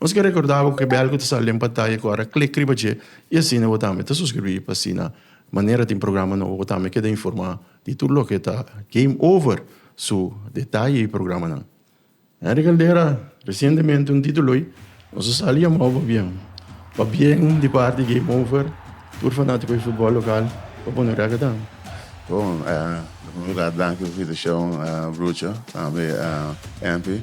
Nos ke rekordá bo ku kebel ku ta sali den pantaya ku ora klik riba dje i asina bo tambe ta suskribí pa asina manera tin programa nobo bo tambe keda informá di tur loke ta Game Over su detaye i programanan. Henry Caldera, Resientemente un ditu loy nos a sali yamao pabien pabien di parti Game Over tur fanátiko di futbòl lokal pa pone rèk adan. Bon, na primer lugar danki pa invitashon Brucho tambe Henry.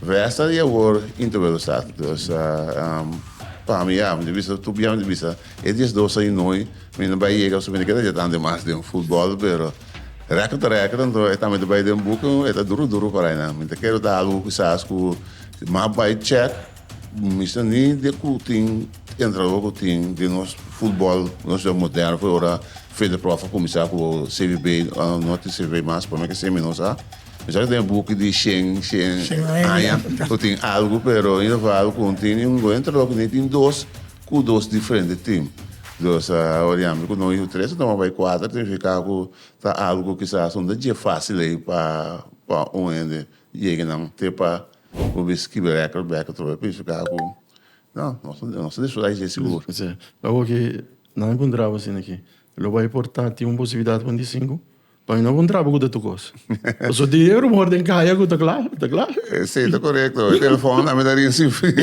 Resta di awor inter Wego Sat. Dus pa mi a mi ta bisa tur bia mi ta bisa e dies dos a inoi mi na bai yega pasobra mi na keda yeta ante mas den futbol pero rèkrit ta rèkrit anto e tambe ta bai den buki e ta duru duru para ainan mi ta kere ta algu kisas ku mas bai chèk mi sta ni de ku tin entrenador ku tin den nos futbol nos juega moderno ora Federprof a kuminsá ku CBB ora no tin CBB mas promé ke semi nos a Mester a den buki di shen shen aña ku tin algu pero in geval ku un tin un lo entra loke ni tin dos ku dos diferente tim dus awor yambe ku no yu tres a tuma bai kuater significa ku ta algu kisas un ta dje facil ei pa pa un hende yega nan te pa ku bisti kibe record bek atrobe por eso ta ku no nos ta disfruta di dje sigur. Awor ke nan encontra bo asina ke lo bai por ta tin un posibilidad ku un di sinku? Pa mi no bon traba ku ta tukos. Paso tin e rumor den kaya ku ta kla, ta kla. Si, ta korekto. E telefon tambe ta rin sin fin.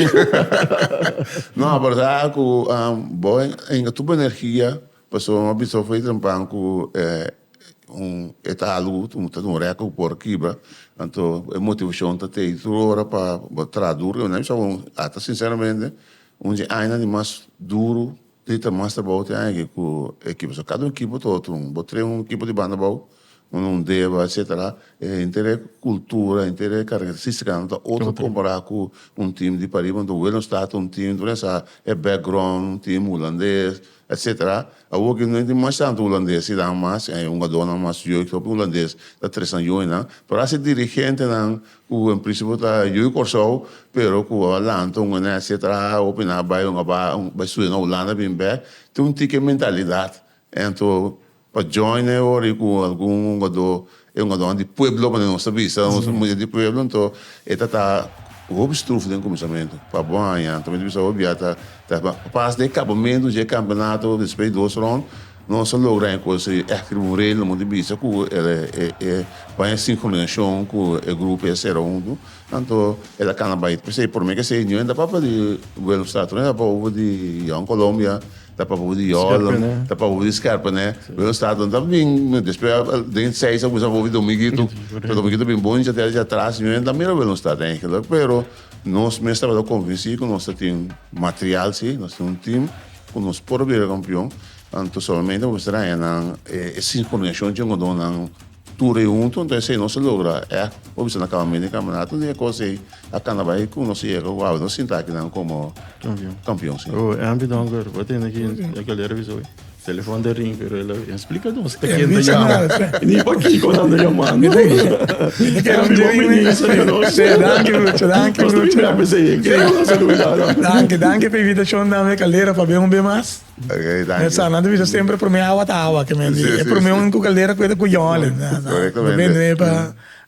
No, a bardad a ku bo inga tur bo energia, paso bo a bisa ofri temprano ku e un e talu ta dun rèk ku por kibra. Anto e motivashon ta tei tur ora pa bo traha duru. Bo na bisa bo ata sinseramente un di e añanan di mas duru. Tin ta mas trabou tin aña aki cu e ekipo so cada un ekipo ta otro un bo train un ekipo di banda bou un un deba etcetera e henter e cultura e henter e caracteristica nan ta otro compara cu un team di pariba un wheel nos ta un team nos a e background un team hulandes etcetera awo aki no tin mas tanto hulandes dan mas e hungador nan mas yoik hopi hulandes ta tresan yoik nan pero haci dirigentenan Cu en principio ta Ui Corsou pero cu a lanta un onesti a traha hopi nan a bay un a bay studia na Hulanda bin bek tin un tiki mentalidad ento pa join e ora y cu algun hungador e hungadornan di pueblo pasobra nos ta bisa nos ta mucha di pueblo ento e ta ta hopi struf den cuminsamentu pa bon aña ento mi ta bisa hopi bia ta ta pas den acabamento dje campeonato despues di dos rond. Nos a logra e cosa y echt riba un rel nos mester bisa cu e baña sincronisacion cu e grupo a cera hunto anto el a cana bay pesey prome que esey niu e ta papel di Willemstad prome ta bobo di Young Colombia ta bobo di Yoland ta bobo di Scherpene Willemstad no ta bin despues den seis a bobo di Domingito pero Domingito a bin bon dicha tera dicha atras niu e ta mira Willemstad pero nos mes tabata convenci cu nos ta tin material si nos tin un team. Ku nos por bira kampion, anto solamente nos mester haña nan e sinkronishashon dje ngodonan tur ei huntu. Anto esei nos a logra e por bisa na akabamentu di e kampeonato. Di e kos ei a kana bai ku nos a yega ku haña nos sinta akinan komo kampion. Ampi dònker. Bo a tende aki e galera a bisa bo, e telefòn ta ring pero el a. Splika nos pa ken ta yama ni pa kiko nan ta yama no. Danki mucho, danki mucho. Danki, danki pa invitashon tambe Caldera pa bin un be mas. Meh sa nan ta bisa semper prome awa ta awa ke men di e prome un ku Caldera ku e ta kuyonle. Prome pa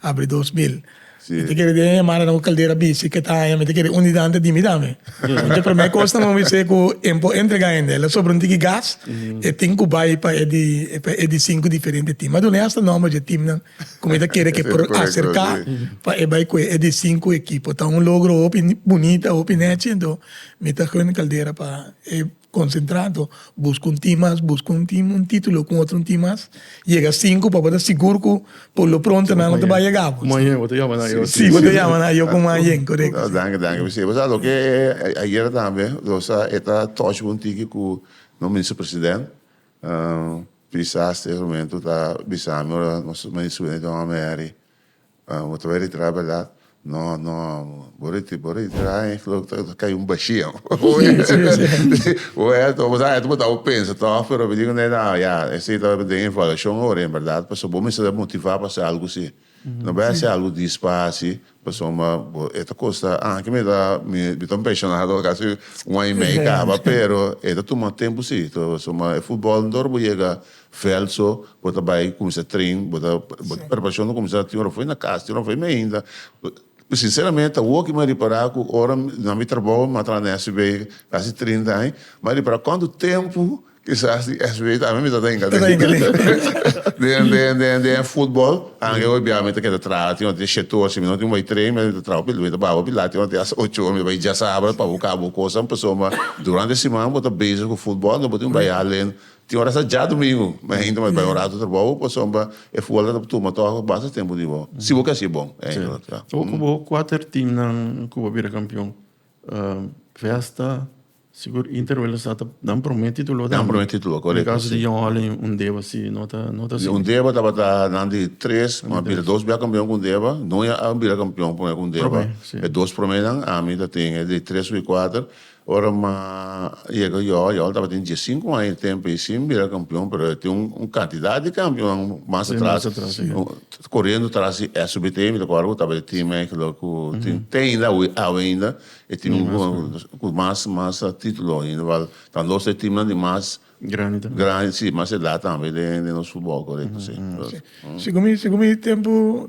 abri dos mil. Si. Mi ta kere den e hemadanan ku Caldera bisti ke ta haña mi ta kere un di nan ta di mi tambe. Enton e promé kos ta movi se ku en por entregá hende. El a sobra un tiki gas, e tin ku bai pa e di pa e di sinku diferente tim. Mi a dun'é asta nòmber dje timnan ku mi ta kere ke por aserká pa e bai ku e di sinku ekipo. Ta un logro hopi bunita, hopi nèchi. Enton mi ta hùn Caldera pa e. Konsentrado, buska un tin mas, buska un tin, un titulo ku otro un tin mas, yega sinku pa bo ta sigur ku por lo pronto nan no ta bai yega bo. Maña bo ta yama nan yo. Si, bo ta yama nan yo ku mañen, korekto. Danki, danki. Mester bo sa loke ayera tambe lo sa e ta touch un tiki ku nos Minister President Piesaas ta e momentu ta bisa mi ora nos Minister Subeneto Ameri. Bo ta bai retira berdad? No, no, bo retira, bo retira e glo ta cay un bashia. Well, ta boso anto bo tabo pensa toch, pero mi dico ne na, ya, esey ta den evaluacion ora en berdad, pasobra bo mester ta motiva pa haci algo así. No bai haci algo dispaci, pasobra bo, e ta custa, anke mi ta, mi ta un pensionado casi un aña y medio caba, pero e ta tuma tempo sí, pasobra e futbol no ta ora bo yega Veld so bo ta bai cuminsa train bo ta preparacion ta cuminsa tin ora fo'i na cas tin ora fo'i mi ainda sinceramente ta hoki mi a repara cu ora na mi trabao mi a traha na SB casi trinta aña mi a repara cuantu tempo kisas di SB ta ami mi ta ta hinca den den den den den football ange oe bia mi ta keda traha tin ora tin shete ora si mi no tin bai train mi ta traha mi ta baba hopi lat tin ora tin hasta ocho ora mi ta bai diasabra pa busca bo cosanan pasobra durante siman bo ta bezig cu football no bo tin bai halen Tin ora sa dja domingo, ma e hende mai bai un ratu trabou pasobra e futbolnan ta por tuma tòg basta tempu di bo. Si bo ke hasi e bon. Bo ku bo kuater timnan ku bo bira kampion, Vesta, sigur Inter wèlda sa ta nan promé titulo tambe. Nan promé titulo, korekto si. Di kaso di Jan Holling, Undeba si no ta no ta asina. Undeba tabata nan di tres, a bira dos bia kampion ku Undeba. Noi a bira kampion promé ku Undeba. Promé, si. E dos proménan, ami ta tin e di tres ku e kuater. Ora ma yega Joao, Joao tabatin die sinku aña e tempo ei sin bira kampion, pero e tin un kantidat di kampionnan mas atras, koriendo tras di SBT, mi ta kòrda ku tabata e tim ei kulo ku tin te ainda awe ainda e tim ku mas mas titulo ainda wèl ta dos ta e timnan di mas grandi, si mas edat tambe den nos futbòl korekto si. Segun mi segun mi tempu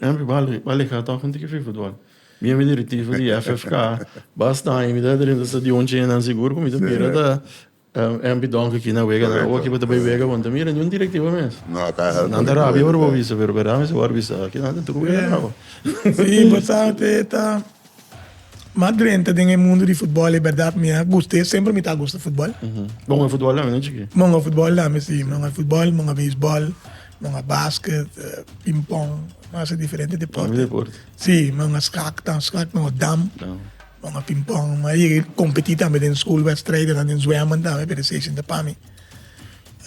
Henry Bali Bali ka tòk untu ki fi futbòl. Mi a mi directivo di FFK, Bas Tañi, mi ta drinta stadion chena nan sigur ku mi ta bira ta Henry Donk aki na wega nan. Oki bo ta bai wega bo no ta mira niun directivo mes. Nan ta rabia ora bo bisa pero berdad mi si bo a bisa kinan ta tru wega nan awo. Si, bo sabi ta. Ma drenta den e mundu di futbòl e bèrdat mi a gusta e semper mi ta gusta futbòl. Bon a futbòl tambe den chikí? Bon a futbòl tambe si, bon a futbòl, bon a beisbòl, bon a basket, pimpong, mas e diferente deporte. Si, bon a skak ta, skak no, dam, bon a pimpong. Mi a yega kompetí tambe den skul wèstrijdennan den zwèmman tambe pero esei sinta pa mi.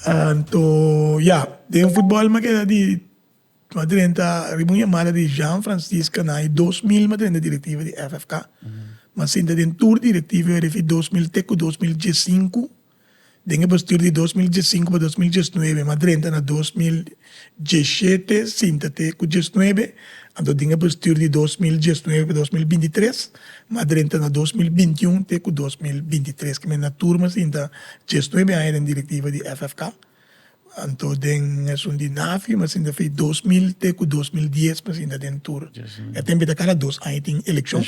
Anto, ya, den futbòl mi a keda di. Nos drenta riba un yamada di Jean Francis Canaan i dos milma drenta direktiva di FFK. M'a sinta den tur direktiva refi dos mil te ku dos mil diesinku. Den e bastur di dos mil diesinku pa dos mil diesnuebe m'a drenta na dos mil dieshete sinta te ku diesnuebe. Anto den e bastur di dos mil diesnuebe pa dos mil binti tres m'a drenta na dos mil binti un te ku dos mil binti tres. Kimen na tur m'a sinta diesnuebe aña den direktiva di FFK. Anto den esun di NAFI mi a sinta fei dos mil te ku dos mil dies mi a sinta den tur. E tempita kada dos aña tin elekshon.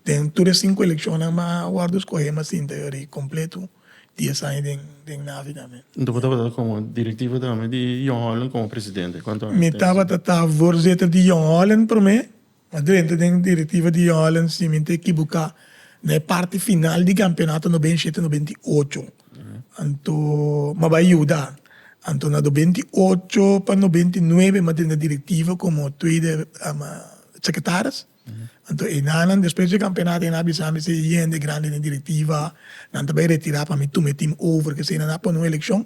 Den tur e sinku elekshonnan mi a wòrdu skohe mi a sinta yori kompletu dies aña den den NAFI tambe. Anto bo tabata komo direktivo tambe di Jong Holland komo presidente. Mi tabata ta vorzetter di Jong Holland promé. Ma drenta den e direktiva di Holland si mi ta ekibuká na e parti final di kampionato no benshe te no benti i ocho. Anto m'a bai yuda. Anto na do benti i ocho pa no benti i nuebe m'a drenta direktiva komo tuede sekretaris. Anto enanan despues di e kampionato nan a bisa mi sey yende grandi den direktiva nan ta bai retirá pa mi tuma e tim over. Kese nan a pone un elekshon.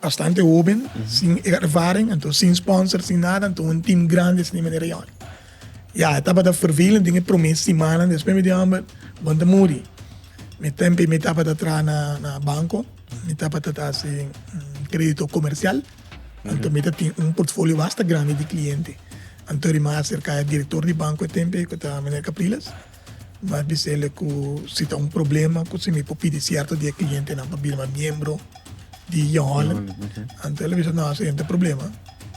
Bastante hoben, sin ervaring, anto sin sponsor, sin nada, anto un team grande asina manera yon. Ya, e tabata vervelend den e prome simannan, despues mi di homber, bon ta muri. Mi tempe mi tabata traha na, na banco, mi tabata ta haci credito comercial, anto mi ta tin un portfolio basta grande di cliente. Anto ri mi a acerca e director di banco e tempe, cu ta meneer Capriles, Mas di sele ku si ta un problema ku si mi por pidi sierto di e klientenan pa bira mi miembro di Young Holland, anto el a bisa, no, esei no ta problema,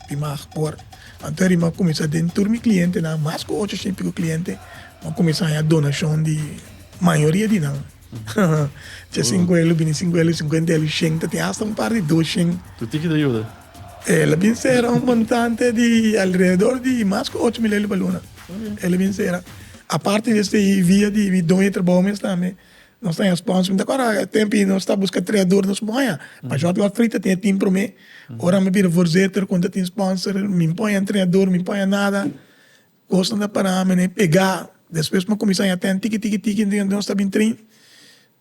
tin mas por. Anto e rima kuminsá den tur mi klientenan, mas ku ocho shimpiku kliente, mi a kuminsá haña donashon di mayoria di nan. Tje sinku elu bini sinku elu sinkuenta elu shen ta tin asta un par di dos shen. Tu tiki ta yuda? Ela bin sera un montante di alrededor di mas ku ocho mil elu pa luna. Ela bin sera. Aparte di esei via di mi doño di trabou mes tambe nos ta haña spons. Mi ta kòrda e tempu ei nos ta buska tres ador nos por haña. Pa short wak frita tin e tim promé. Ora mi a bira voorzitter kon ta tin sponsor mi por haña entrenador mi por haña nada. Cosnan ta para mi ne pega despues mi a cuminsa haya ten tiki tiki tiki den nos ta bin train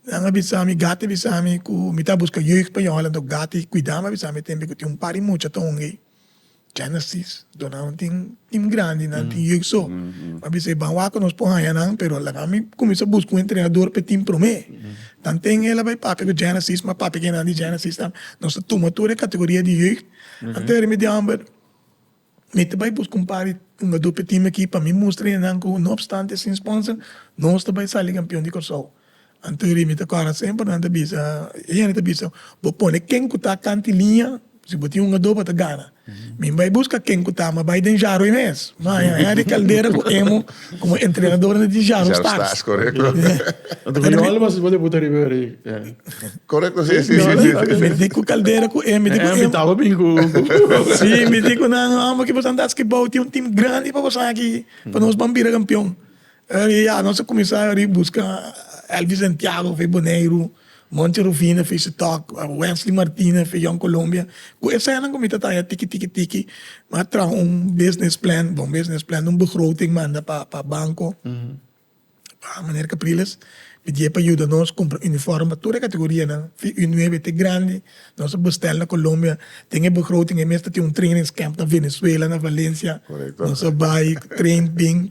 nan a bisa mi gati a bisa mi cu mi ta busca jeugd pa jola enton gati cuida mi a bisa mi tembe cu tin un par di mucha ta hunga ey Genesis Donald tin team grandi nan tin jeugd so mi a bisa ban wak cu nos por haya nan pero laga mi cuminsa busca un entrenador pe team prome nan ten ela bay papia cu Genesis mi a papia cu enan di Genesis nos ta tuma tur e categoria di jeugd antes remedial Mi ta bai busca un par di hungador p'e team aki pa mi mustra enan cu no obstante sin sponsor nos ta bai sali campeon di Corsou. Anto ri mi ta cora semper nan ta bisa e hende ta bisa bo pone ken cu ta canta y liña si bo tin hungador pa ta gana. Mi bai busca ken cu ta ma bai den Jaroy mes. Maya, Henry Caldera cu Emo. Komo e entrenadornan di Jaro Stars. Korekto si si si. Mi di ku Caldera ku e mi di ku e. Si mi di ku nan amo ki boso a dal skibou tin un tim grandi pa boso aki pa nos ban bira kampion. Nos a kuminsá buska Elvis Santiago of Boneiru. Monchi Rufino fei su tok, Wesley Martinez fei Young Colombia, ku esènan ku mi ta taña tiki tiki tiki, m'a traha un business plan, bon business plan, un begroting manda pa pa banko, pa meneer Capriles, mi di e pa yuda nos kumpra uniform pa tur e kategorianan, fi u nueve te grandi, nos a bèstèl na Colombia, den e begroting ei mi mester tin un trainingscamp na Venezuela, na Valencia, nos a bai, traind bin,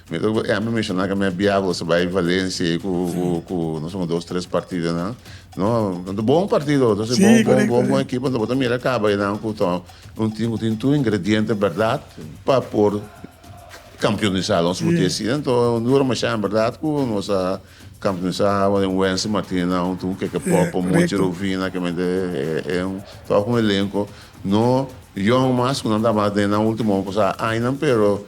Mi ta duna ehempel menshoná ku mi a bia gosa bai Valencia ei ku ku nos un dos tres partidonan no ta bon partido ta si bon bon bon bon ekipo bo ta mira kaba einan ku ta un tim ku tin tur ingrediente bèrdat pa por kampionisá lo nos por di asi anto dura mashá en bèrdat ku nos a kampionisá den Wense Martinez nan huntu ku Keke Popo Monchi Rovina kemente e un tòg un elenko no yòn mas ku nan tabata den nan ultimo añanan pero.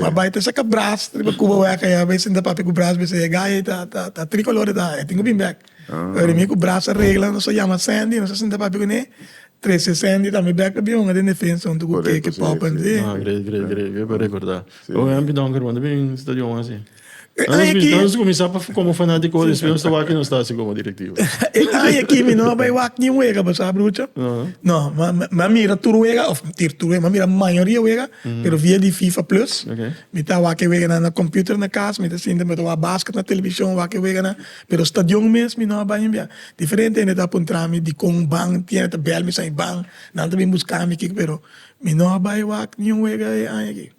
Ma bai ta saka bras riba Cuba wea ka ya bai sinta papia cu bras bisa e gay ta ta tri color ta e tin cu bin bek pero mi cu bras a regla nos a yama Sandy nos a sinta papia cu ne trece Sandy tambe bek pa bihonger den defensa hunto cu Keke Poppen. Great great great great pa recorda. Oye Ampi Donker wanda bin stadion asi? Nos ta kuminsá komo fanático hopi despues nos ta wak y nos ta hasi komo directivo. E aña aki mi no a bai wak niun wega pasá brucha. No, mi a mira tur wega òf tur tur wega, mi a mira mayoria wega pero via di fifa plus. Mi ta wak e weganan na kòmputer na kas, mi ta sinti mi ta wak basket na televishon, wak e weganan, pero stadion mes mi no a bai niun biaha. Diferente hende ta puntra mi dikon ban tiene, ta bel mi sa e ban, nan ta bin buska mi kiko pero mi no a bai wak niun wega e aña aki.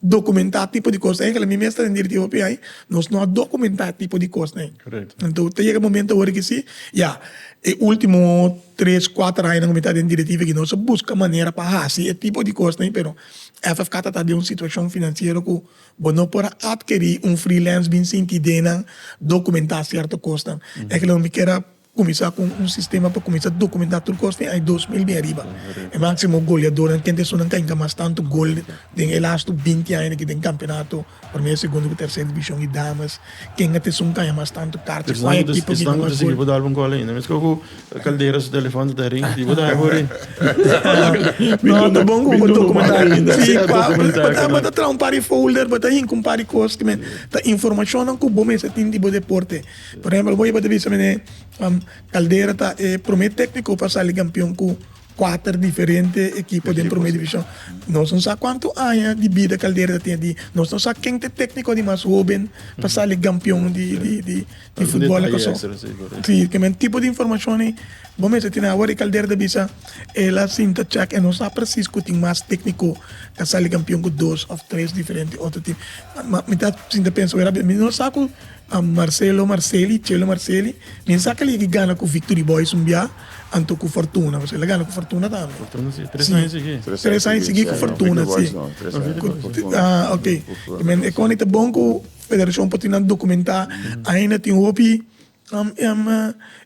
documentá tipo di cosnan ay, mi mes ta den directivo p'e ay, nos no a documentá tipo di cosnan ay. Correcto. Enton ta yega e momento awor aki si, ya, e ultimo tres, cuater añanan cu mi ta den directivo aki nos a busca manera pa haci e tipo di cosnan ay, pero FFK ta ta den un situacion financiero cu bo no por a adkeri un freelance bin sinti denan documentá cierto cosnan. Ay ke loke mi kier a Kuminsá ku un sistema pa kuminsá dokumentá tur kos den aña dos mil den ariba. E máksimo goleadónan kende esunnan ka hinka mas tantu gol den e lastu binti aña di aki den Kampeonato Promé, Segundo ku Tèrsèr Divishon i Damas. Kenga ta esun kaña mas tantu karta i kual ekipo a hinka mas gol. Por ehempel bo yeba ta bisa mi ne Caldera ta e prome tecnico pa sali campeon cu cuater diferente ekipo den prome division nos no sa cuanto aña di bida Caldera ta tin di nos no sa ken ta e tecnico di mas hoben pa sali campeon di futbol na Corsou si kimen tipo di informacion ayi bo mester tin awor y Caldera ta bisa ela sinta check e no sa precis cu tin mas tecnico ta sali campeon cu dos of tres diferente otro team mi ta sinta pensa mi no sa cu. Am Marcelo Marceli, Chelo Marceli, mi a saca legi gana cu Victory Boys un bia, anto cu Fortuna, pasobra el a gana cu Fortuna tambe. Fortuna si, tres aña sigi. Tres aña sigi cu Fortuna, si. Ah, ok. I men e con e ta bon cu federacion por tin nan documenta, aina tin hopi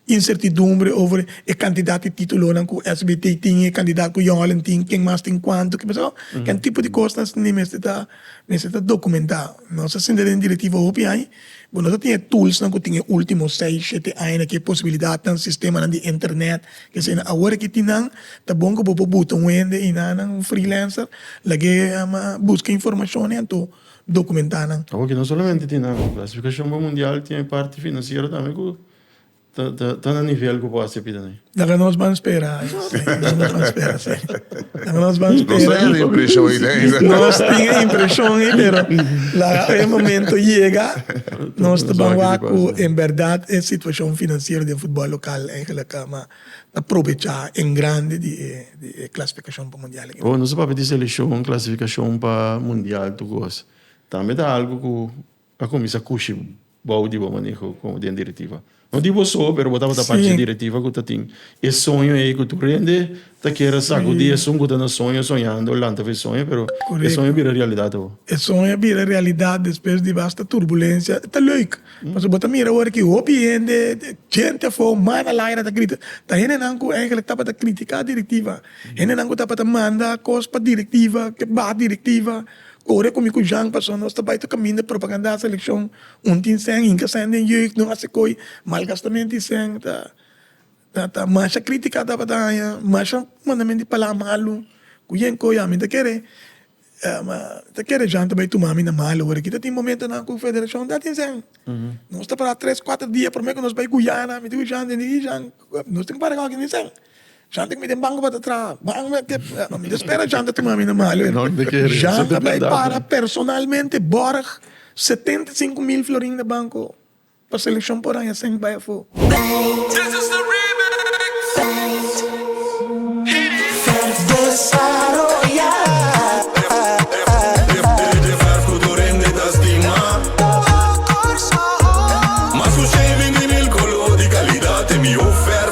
incertidumbre over e cantidad di titulonan cu SBT tin, e cantidad cu Jong Holland tin, ken mas tin cuanto, kibeso. Ken tipo di cosnan ni mester ta. Mester ta documentá. Nos ta sinti den Directiva hopi aña, but nos no tin e toolsnan cu tin e ultimo seis, shete aña na ke posibilidadnan, sistemanan di internet, keseynan. Awor aki tin nan, ta bon cu bo por buta un hende y nan, un freelancer, lagu'e busca informacionnan anto documentá nan. Awor aki no solamente tin nan, Clasificación pa Mundial tin e parti financiero tambe cu. Ta na nivel cu bo haci pida na e. Laga nos ban spera. Laga nos ban spera. Nos tin e impresion ey den esa. Nos tin e impresion ey pero laga e momento yega nos ta ban wak cu en berdad e situacion financiero den futbol local eigenlijk coma ta probecha en grandi di e clasificacion pa mundial aki. Nos a papia di seleccion clasificacion pa mundial tur cos. Tambe ta algo cu. a cuminsa cushi bao di bo maneho como den directiva. No di bo so, pero bo tabata parchi di directiva cu ta tin e soño ey cu tur hende ta kier a sacudi esun cu ta na soño, soñando, lanta fu e soño, pero e soño a bira realidad awo. E soño a bira realidad despues di basta turbulencia, e ta leuk, pasobra bo ta mira awor cu hopi hende, gente afo, mana laira ta grita, ta hendenan cu eigenlijk tabata critica directiva, hendenan cu tabata manda cos pa directiva, ke baha directiva. Ora cu mi cu Jean paso nos ta bay ta caminda propaganda a seleccion un tin sèn hinca sèn den jeugd no haci coy malgastamento y sèn ta ta ta masha critica tabata haña masha manda men di pala malu cu yen coy ami ta kere mi ta kere Jean ta bay tuma mi na mal ora ki ta tin momentonan cu federacion ta tin sèn nos ta para tres cuatro dia prome cu nos bay guyana mi dico Jean den di Jean nos tin cu para gauke tin sèn. Janta cu mi den banco pa ta traha. Mi ta spera Janta tuma mi na Mali. Janta bay para personalmente borg setenta i sinku mil florin na banco pa seleccion por haña semi bay afo.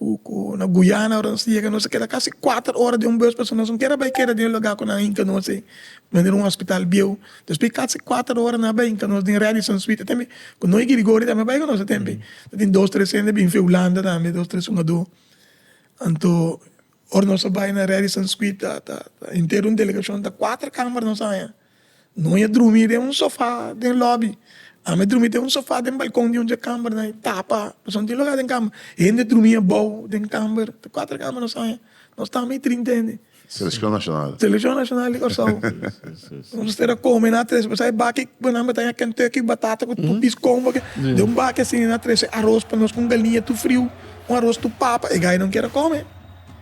Ku ku na guyana ora nos ta yega nos ta keda kasi kuater ora den un bus pasobra nos no ker a bai keda den e lugá ku nan a hinka nos ei manera un hospital bieu despues di kasi kuater ora nan a bai hinka nos den Radisson suite atende ku noi Girigorio tambe a bai ku nos atende ta tin dos tres hende a bini fen hulanda tambe dos tres sumadó anto ora nos a bai na Radisson suite ta ta henter un delegashon ta kuater kamer nos a haña. Noi a drumi den un sofa den lobby ami a drumi den un sofa den balkon di un dje kamber na e tapa pasobra no tin loga den kamber hende a drumi abou den kamber ta kuater kamber nos haya nos ta ami trinta hende Seleccion nacional Seleccion nacional di Kòrsou nos mester a kome na trese pasobra e baki ku nan bata haya kentucky batata ku tupi skon bo den un baki asina nan a trese aros pa nos ku un galiña tur friu un aros tur papa e gainan kier a kome.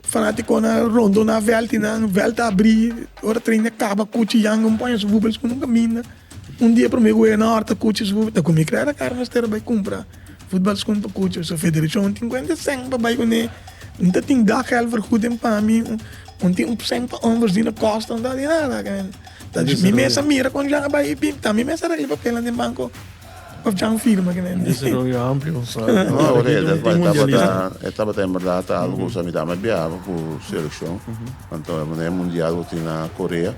Fanaticonan a rondo na velti nan, velt a abri, ora train a caba cuchi Jan un poña su bubbels cu nunca minda. Un dia prome gueya na horta cuchi su bubbels ta cumi crea na cara mester a bay cumpra futbal schoen pa cuchi so federashon tin cuente cen pa bay cu ne un ta tin dag gel vergoed den pami un tin cen pa hombres di na costa un ta bay nada mi mes a mira con Jan a bay y pim ta mi mes a regla papelan den banco. Of djan firma kende. Desaroyo amplio un sòl. No, orie e tabata, e tabata en bèrdat algu ku sa mitá mi a biaba ku selekshon. Anto e manera e mundial ku tin na Korea,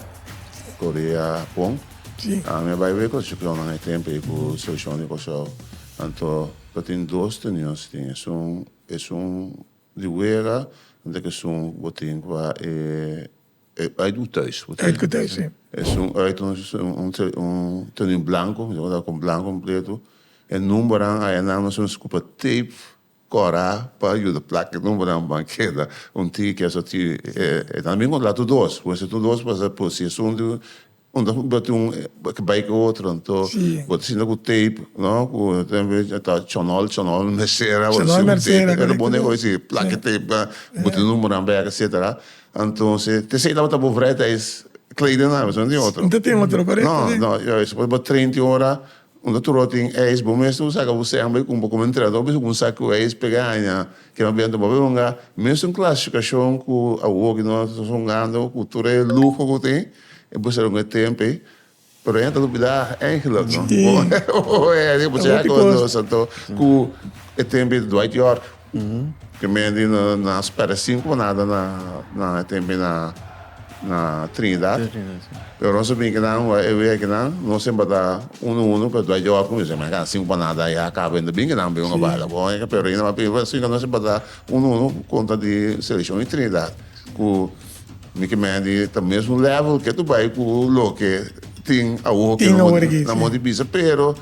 Korea, Hapon. Mi a bai wei kos chiklonan e tempu ei ku selekshon di Kòrsou. Anto ta tin dos tunion si tin esun, esun di wega, anto e kesun ku bo tin pa e. E bai do thuis. Uit cu thuis, si. Es un uit, un, un, un tenido blanco, mi ta cuenta con blanco con preto. E numbernan aye nan nos nos ocupa tape cora pa yuda placa e numbernan pa keda. Un tin ki kier sa tin, e, e, e ta na bin con lato dos, pues e lato dos, pues e, pues si e son di Unda ku bo tin ke bai ku otro anto bo ta sinta ku tape no ku ta chonol chonol mesera bo ta sinta ku tape e ta bon den oye si plaki tape na bo tin numeronan bek etsetera antonse te esei tabata bo vrijheid tais kleden nan mesora no tin otro no no esei bo train tin ora Unda tur ora tin eis, bo mester ku saka bo sènba i kumpa komo entrenador bisti un sak ku eis pega haña ke no bienta bo a bai hunga. Mesun klasifikashon ku awo ke no ta hungando ku tur e luho ku tin, e por ser un e tempu ei, pero hende ta lupida Angelot, no? Bo hèn, bo hèn, bo changa konta nos anto ku e tempu ei di Dwight Yorke. Primeramente no a spera cinco nada na na e tempo na na Trinidad pero nos a bin kinan wak e wea kinan no semper ta uno uno pero ta yo acu misa manga cinco pa nada ya a caba inta bin kinan bin bala bo e pero reina a pediba si no semper ta uno uno cu conta di seleccion di Trinidad cu mi ki menti ta mesmo level ke tu bay cu loke tin awo ke no no a bisa pero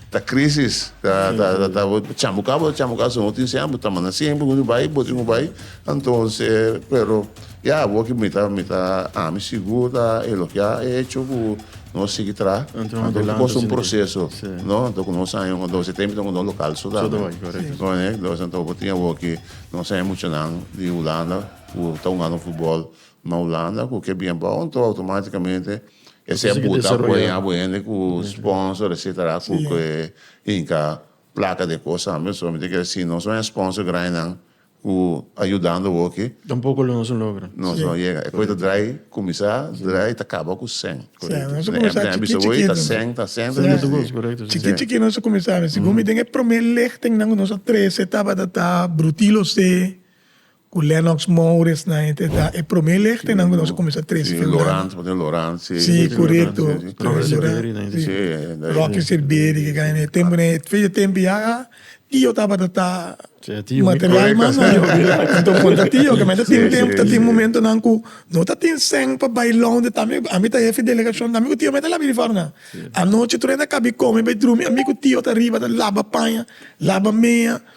Ta crisis ta ta ta bo ta chambuca bo ta chambuca si no tin señal bo ta manda siempre un tin bay bo tin cu bay entonces pero ya awor ki mi ta mi ta ami sigur ta elogia e hecho cu no sigui traha Anto un adelante cosa un significa. proceso Sí. no anto cu nos aña anto se tem con un local so Zo te bay, correcto. no ne entonces anto bo tin awor ki no sabe mucho nan di Hulanda cu ta jugando futbol ma Hulanda cu ke bien bao anto automaticamente Esei a buta apoya abu hende ku sponsor etsetera ku ke hinka plaka de kos tambe so mi ta kere si no son e sponsor grainan ku a yudando awoke Tampoco lo nos a logra. nos no yega e kos ta drai kuminsá drai ta kaba ku sèn Korekto nos a kuminsá chikit chikit nomás ta sèn ta sèn ta Segundo sèn gos korekto si chikit chikit nos a kuminsá mi sigun mi den e promé lehting nan ku nos a trese tabata ta Brutilo se Ku Lennox Mowris nan e ta e promé legtenan ku nos a kuminsá trese febrero. Si, Lorans, pasobra Lorans e. Si, korekto. Rocky Sirberi nan e ta kere. Rocky Sirberi ke kaya nan e tempu nan. E fecha e tempu ya a Tio tabata ta material mas nan. Anto kon ta Tio ke men ta tin tempu, ta tin momentunan ku no ta tin sèn pa bai lònt di Tami. Ami ta hefi delegashon Tami ku Tio mi ta laba iri for nan. Anochi tur a inda kabi kome bai drumi ami ku Tio ta riba ta laba paña, laba mea.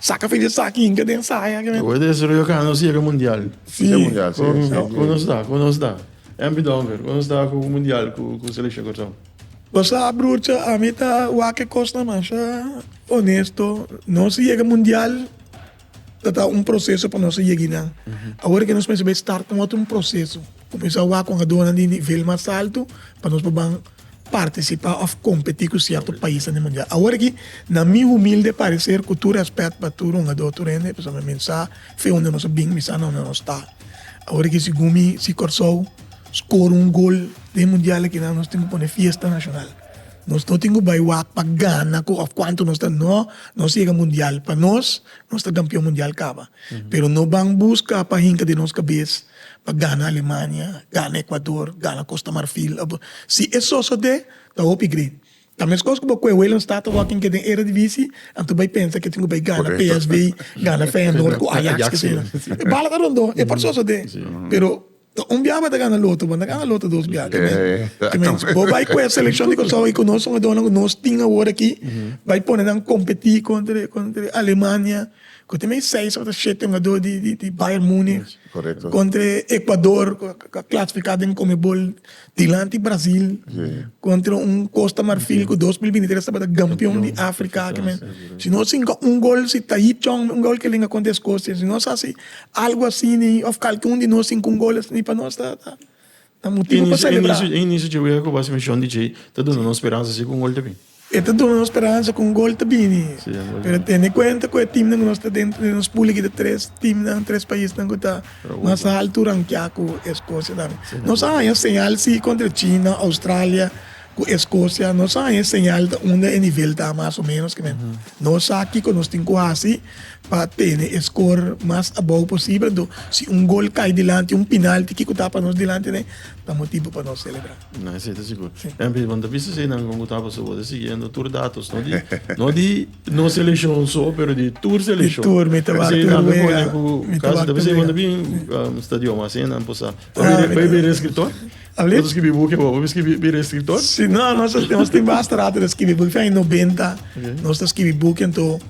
Saka fei di esaki inka den saya. Lo bo des rio ka nos yega mundial. Yega mundial si. Ku nos ta ku nos ta MP Donker ku nos ta ku mundial ku selekshon Kòrsou. Bo sa brucha ami ta wak e kosnan masha onesto nos a yega mundial ta ta un proseso pa nos a yegi nan awor ke nos mester bai start un otro proseso kumisa wak kon aduanan di nivel mas alto pa nos por ban. partisipá òf kompetí ku sierto paisnan den mundial. Awor aki, na mi humilde pareser, ku tur rèspèt pa tur hungadó, tur hende, pasobra mi sa fe unda nos a bin, mi sa na unda nos ta. Awor aki, sigun mi, si Kòrsou skora un gol den mundial aki, nan nos tin ku pone fiesta nashonal. Nos no tin ku bai wak pa gana ku òf kuantu nos ta, nò, nos yega mundial pa nos, nos ta kampion mundial kaba. Pero no ban buska pa hinka den nos kabes. pa gana Alemania, gana Ecuador, gana Costa Marfil of si e sosode ta hopi great. Ta mescos cu bo cu e Wayland Staat ta wak in keda den Eredivisie anto bay pensa cu e tin cu bay gana PSV, gana Feyenoord cu Ajax keseyna. E bala ta rondo, e por sosode pero ta un biaha bo ta gana loto bo no ta gana loto dos biaha ta men bo bay cu e seleccion di Curaçao y cu nos hogadornan cu nos tin awor aki bay pone nan competi contra Alemania. Cu ta mey seis of ta shete hungador di Bayern Munich contra e Ecuador cu a clasifica den Conmebol dilanti Brazil contra un Costa Marfil cu dos mil binti tres tabata campeon di Africa aki men. Si no sinca un gol si Taib Chong un gol ke lenga contra Escocia si no sa si algo asina of kalke un di nos sinca un gol asina pa nos ta. Ta motibu pa selebrá. E inisio dje wega ku basimishon di dje ta duna nos speransa si ku un gol ta bini. E ta duna nos speransa ku un gol ta bini. Pero tene kuenta ku e timnan ku nos ta dentro den nos púl aki ta tres timnan, tres paisnan ku ta mas haltu rankiá ku e Skosia nan. Nos a haña señal si kontra China, Oustralia, Ku e Scotia no sa e señal ta unda e nivel ta mas o menos ke men no sa kiko nos tin ku hasi pa tene e skor mas abou posibel enton si un gol kai dilanti un pinalti kiko ta pa nos dilanti nei ta motibu pa nos selebrá. No esei ta sigur. Jan Piet bo ta bisa esei nan kon ku ta paso bo ta siguiendo tur datos no di no di nos seleshon so pero di tur seleshon. Di tur mi ta wak tur wega mi ta wak tur wega. Esei bo ta bin stadion asina nan por sa. Bo a bira e skirtor? Alip. Nos a skibi buki bo, bo mi skibi bira eskriptor? Si, no, nos a, nos tin bastante ta skibi buki. Fin aña nobenta nos ta skibi buki, anto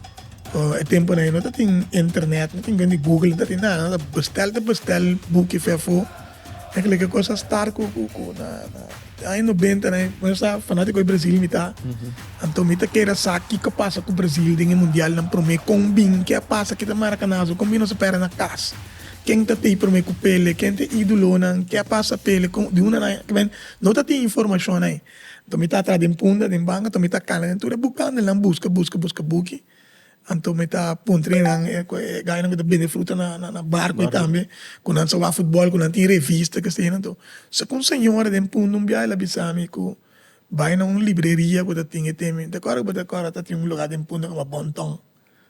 e temponan ei no ta tin internet, no tin bende google, no ta tin nada. Nos a bestel ta bestel buki fe afo. Mi a kila ke kos a start ku ku ku na na aña nobentanan ei. Por esa fanatiko di Brazil mi ta. Anto mi ta kere sa kiko a pasa ku Brazil den e mundialnan promé, kon bin, ke a pasa kita Maracanazo, kon bin nos a pèrdè na kas. Ken ta pei prome ku pele, ken ta e idulonan, ke a pasa pele kon di una na e kmen, no ta tin informashon ai. Anto mi ta atra den punda den banga, anto mi ta kala den tur e bukandelnan buska buska buska buki, anto mi ta puntra enan e gainan ku ta bende fruta na barko ei tambe, ku nan sa wak futbòl, ku nan tin revista kestenan anto sa ku un señora den punda un biaha el a bisa mi ku bai na un libreria ku ta tin e teme, ta kòrda ku bo ta kòrda ta tin un lugar den punda ku a Bon Ton.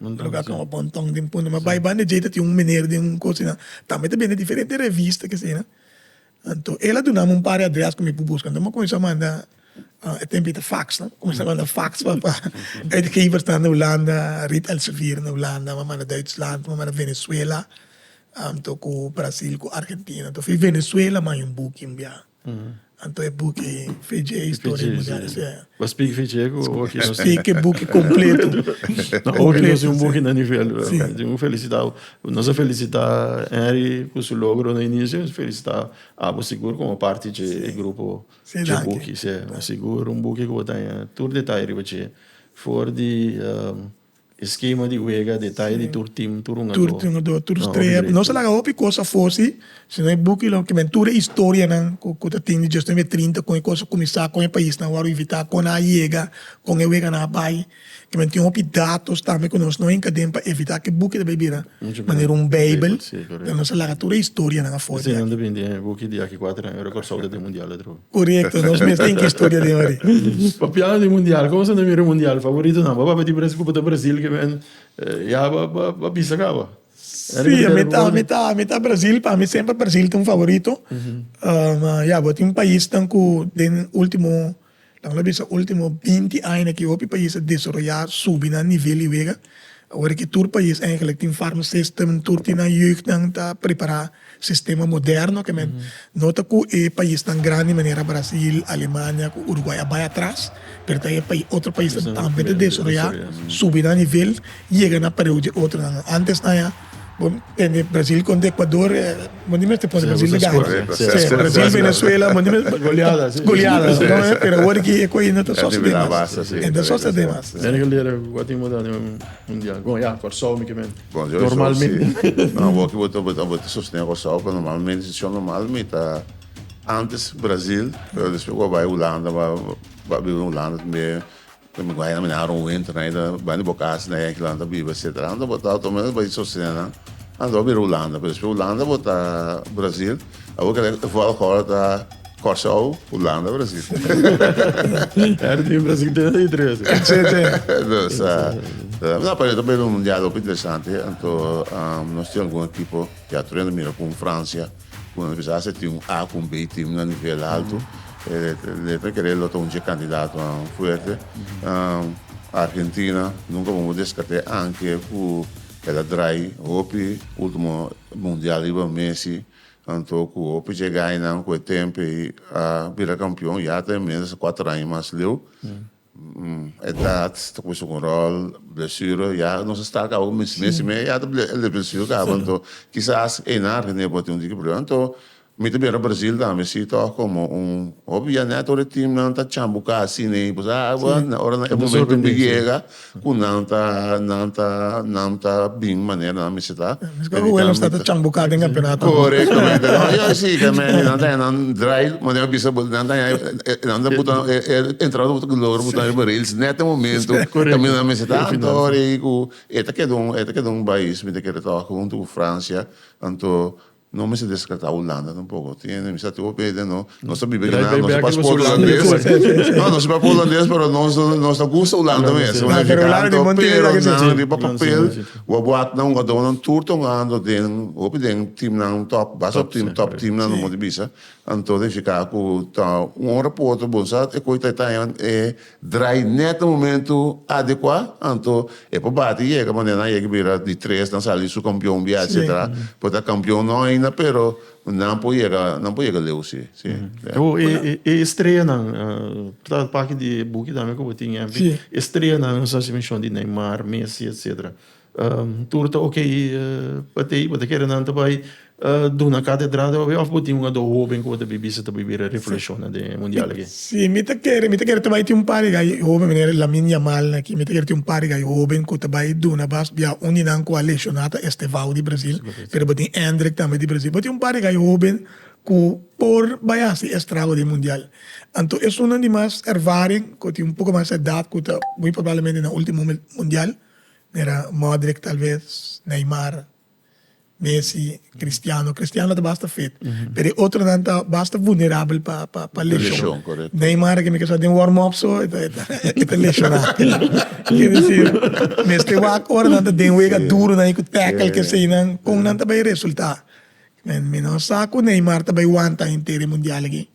Luga ku a bonton den punto ma bai banda djei ta tin un mener den un kosa asina tambe e ta bende diferente revista kesina anto el a dunami un par di adres ku mi por buska anto mi a kuminsha manda e tempo ei ta fax no kuminsha manda fax pa uitgevers nan na hulanda Riet Elsevier na hulanda mi a manda Duitsland mi a manda Venezuela anto ku Brazil ku Argentina anto fi Venezuela mi a bai buki un biaha. Anto e buki Fiji e historia di mundial ese. Bo spiki Fiji e ku oki no si. Spiki buki kompletu. Na oki no si un buki na nivel. Un felisita. Nos a felisita Henry ku su logro na inicio, nos a felisita abo sigur komo parti dje e grupo dje buki. Sigur un buki ku bo ta haña tur detaye riba dje for di. Eskema di wega, detaye di tur tim, tur hungadó. Tur hungadó, tur strea. Nos a laga hopi kos afó si, si no e buki lo kiba tur e historianan ku ta tin di djos temp e trinta kon e kos a kuminsá, kon e paisnan a wòrdu invitá, kon nan a yega, kon e weganan a bai. Kiba tin hopi datos tambe ku nos no hinka den pa evitá ku e buki ta bai bira manera un beibel. Nos a laga tur e historianan afó di aki. Eseinan ta bini den e buki di aki kuater anu, ora Kòrsou ta den mundial otro. Correcto, nos mes tin ki historia den ori. Papiando di mundial, como asina mira e mundial favoritonan? Bo papia di Brazil cu bo ta Brazil que men ya bo a bisa caba? Si, ami ta ami ta ami ta Brazil, pa mi semper Brazil ta un favorito. Ma ya, bo tin paisnan cu den ultimo, lamoda bisa ultimo binti aña na ki hopi pais a desaroya, subi nan nivel di wega. Awor a ke tur pais eigenlijk tin farmaceutsnan, tur tin nan jeugdnan ta prepara Sistema moderno ke men no ta ku e paisnan grandi manera Brasil, Alemania ku Uruguay a bai atras, pero ta e otro paisnan tambe ta desaroyá, subi nan nivel, yega na pareu di otronan. Antesnan ya bo tende Brasil kontra Ekuador, bo ni mester pone Brasil ta gana. Sèf, Brasil, Venezuela, bo ni mes Goliadas. Goliadas, no e? Pero awor aki e kos no ta sosodé mas. E no ta sosodé mas. Mene ke lera ku atin bo ta den un mundial. Bon, ya, Kòrsou mi ke mene. Normalmente. Awor ki bo ta sostene e Kòrsou, pero normalmente e desishon normal mi ta antes Brazil, pero despues ku a bai Hulanda, mi a biba den Hulanda tambe, mi a haña na aron winter, mi ta bai na bo kas na e kilaha nan ta biba etcetera. Anto bo ta automaticamente bai sostene nan, anto bo a bira Hulanda, pero despues Hulanda bo ta Brazil. Abo kere e voetbal hall ta Kòrsou, Hulanda, Brazil. Her team Brazil te di tres. Dus, uh, nou, para também no mundial ook interessant, hè. En toe, um, nos tem algum equipo, ja tu rende mira com França, com a pesar se tem um A com B team na nível alto, eh, letra querer lota um dia candidato a um fuerte. Um, Argentina, nunca vamos descartar anche com El a drai hopi ultimo mundial riba Messi anto ku hopi chegaenan ku e tempe ei a bira kampion ya ta e mes a kuater aña mas leu. Edat ta kusa un ròl, blesure ya nos a sta kaba ku Messi me ya ta ble blesure kaba anto kisas einan René por tin un diki problema anto Mi ta bira Brasil ta mi si toh como un hopi ya net ora e team nan ta chambu casi ni pues a bueno ora nan e momento mi yega cu nan ta nan ta nan ta bin manera nan bisita corectamente no yo si ta medi nan ta nan draai manera mi bisa bo nan ta nan ta buta e entrada bo ta gloria bo ta riba rails net e momento caminda nan bisita anto ora cu e ta keda un e ta keda un bais mi ta kere toha hunto cu Francia anto No mester descarta Hulanda tampoco. Tiene misa te hopi eden no. Nos ta biba aquí na nos paspoort Hulandes. No, nos papa Hulandes pero nos nos ta gusta Hulanda mes. Nos ta pero Hulanda di Montevideo pero aquí nan riba papel wou wak nan wou do nan tur tongando den hopi den team nan top basa team top team nan mo di bisa anto de fica cu ta un hora poto bon sa e koe ta taña e Draai net na momento adekua, anto e por bati yega manera nan yega bira di tres, nan sali su kampion bia etsetera. Por ta kampion no ainda pero nan por yega nan por yega leu si. Si. Bo e e estreanan por ta paki di e buki tambe ku bo tin, estrena nan nos hasi menshon di Neymar, Messi etsetera. Tur ta ok pa t'ei, bo ta kere nan ta bai duna katedra ta papia of bo tin un ado hoben ku bo ta bibi sa ta bibi e revolushonnan den e mundial aki? Si, mi ta kere, mi ta kere ta bai tin un par di gai hoben, manera Lamin Yamal nan aki, mi ta kere tin un par di gai hoben ku ta bai duna bas bia un di nan ku a lesioná ta Estevao di Brazil, pero bo tin Endrick tambe di Brazil, bo tin un par di gai hoben ku por bai hasi e estrago den mundial. Anto esunnan di mas ervaring ku tin un poko mas edat ku ta muy probablemente na ultimo mundial. Mira Modric tal vez, Neymar, Messi, Cristiano, Cristiano ta basta fit, pero e otronan ta basta vulnerabel pa pa pa leshon, Neymar aki mi ke sa den warm up so e ta e ta leshona, ke disir mester wak ora nan ta den wega duronan i ku tackle keseinan kon nan ta bai resulta, mi no sa ku Neymar ta bai wanta henter e mundial aki.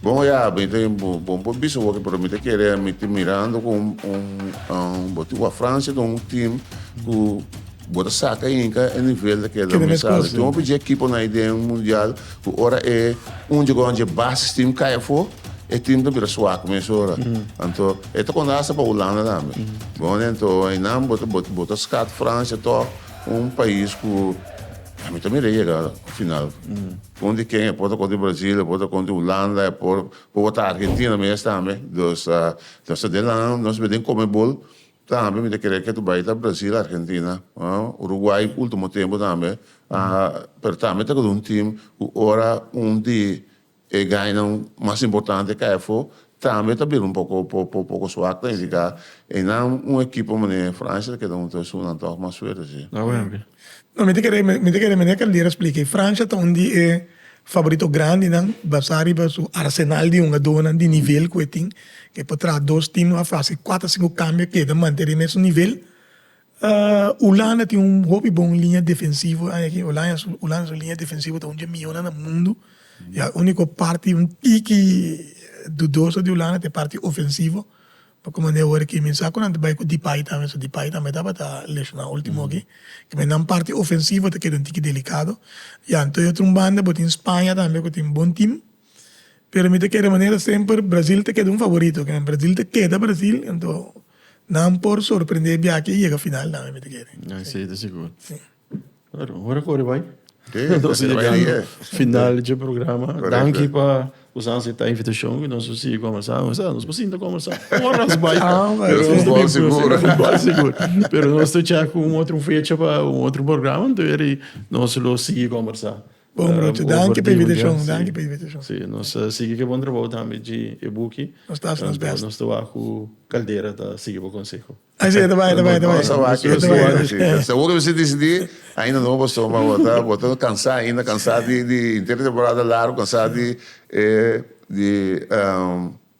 Bon oye a mi ta bon por bisa bo pero mi ta kere mi ta mirando cu un bo tin cu Francia tin un team cu bo ta saca inca e nivel ta keda mesada tin hopi dje ekiponan ayi den mundial cu ora e un djego dje basis team cay afo e team ta bira suak mesora anto e ta conta hasta pa Hulanda tambe bon ento ayinan bo ta scat Francia toc un pais cu a mi ta mira e yega final. Con di ken e por ta con di Brasil e por ta con di Hulanda e por por wata Argentina mes tambe dos nos ta den nan nos den Conmebol tambe mi ta kere ke tu bay ta Brasil Argentina Uruguay ultimo tempo tambe pero tambe ta un team ku ora un di e gainan mas importante kay afo Tambe ta bira un poko poko suak ta indica eynan un ekipo mane Francia ta keda hunto e sunan tog mas suerte si. Na Wembley. No mi ta kere mi ta kere mene Caldeira explica Francia ta un di e favorito grandi nan basa riba su arsenal di hungador nan di nivel cu e tin ke por traha dos team a face cuater cinco cambio keda mantene su nivel Hulanda tin un hopi bon liña defensivo anda aki Hulanda su liña defensivo ta un dje mihona na mundu ya uniko parti un tiki dudoso di Hulanda ta e parti ofensivo pa kuma nan e oir aki men sa ku nan ta bai ku depay tambe so depay tambe tabata leshona ultimo aki me nan parti ofensivo ta keda un tiki delikado ya anto otro banda bo tin Spaña tambe ku tin bon tim. pero mi ta kere manera semper Brasil ta keda un favorito kende Brasil ta keda Brasil anto nan por sorprende biaki y yega final tambe mi ta kere si ta sigur si. Bueno ora kore bai nos ta yegando final di dje programa danki pa kusa asepta invitashon y nos a sigui kombiersá nos a nos por sinta kombersá oras bai pero nos ta bini puru na futbol sigur pero nos ta chek un otro fecha pa un otro programa tori nos lo sigui kombersá. Bon brote, danki pa invitashon, danki pa invitashon. Si, nos ta sigui ke bon trabou tambe dji e buki. Nos ta hasi nos best. Nos ta wak ku Caldera ta sigui bo konseho. Así e ta bai, e ta bai, e ta bai. Nos ta wak ku Caldera ta wak ku así. Seguro mester disidí, ainda no paso, ma bo ta, bo ta kansa ainda, kansa di, di intertemporada largo, kansa di e, di.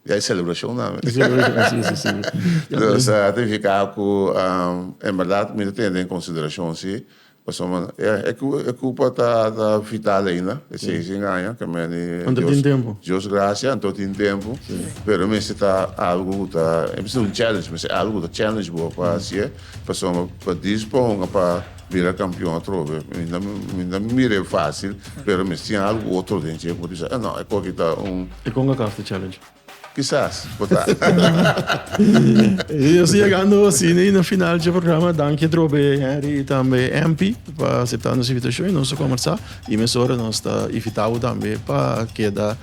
Ya e celebracionnan. E celebracionnan, si, si, si. Dus, ta nifica cu en berdad mi ta tene den consideracion, si, pasobra e cu, e cupa ta vital ainda, e seisin aña, ta mester di. Anto tin tempo. Dios gracia, anto tin tempo, pero mester ta algo cu ta, e mester un challenge, mester algo cu ta challenge bo pa hacié, pasobra pa dispon pa. bira campeon atrobe minda minda mi mira e facil pero mi tin algo otro den dje cu mi bisa no e coki ta un. E con a caf ta challenge? Kisas por ta. Y así yegando así ne na final dje programa danki atrobe Henry y tambe Empy pa acepta nos invitacion y nos a conversa y mesora nos ta invita bo tambe pa keda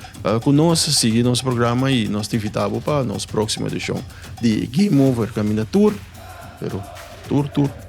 cu nos sigui nos programa y nos ta invita bo pa nos proximo edicion di Game Over caminda tur pero tur tur.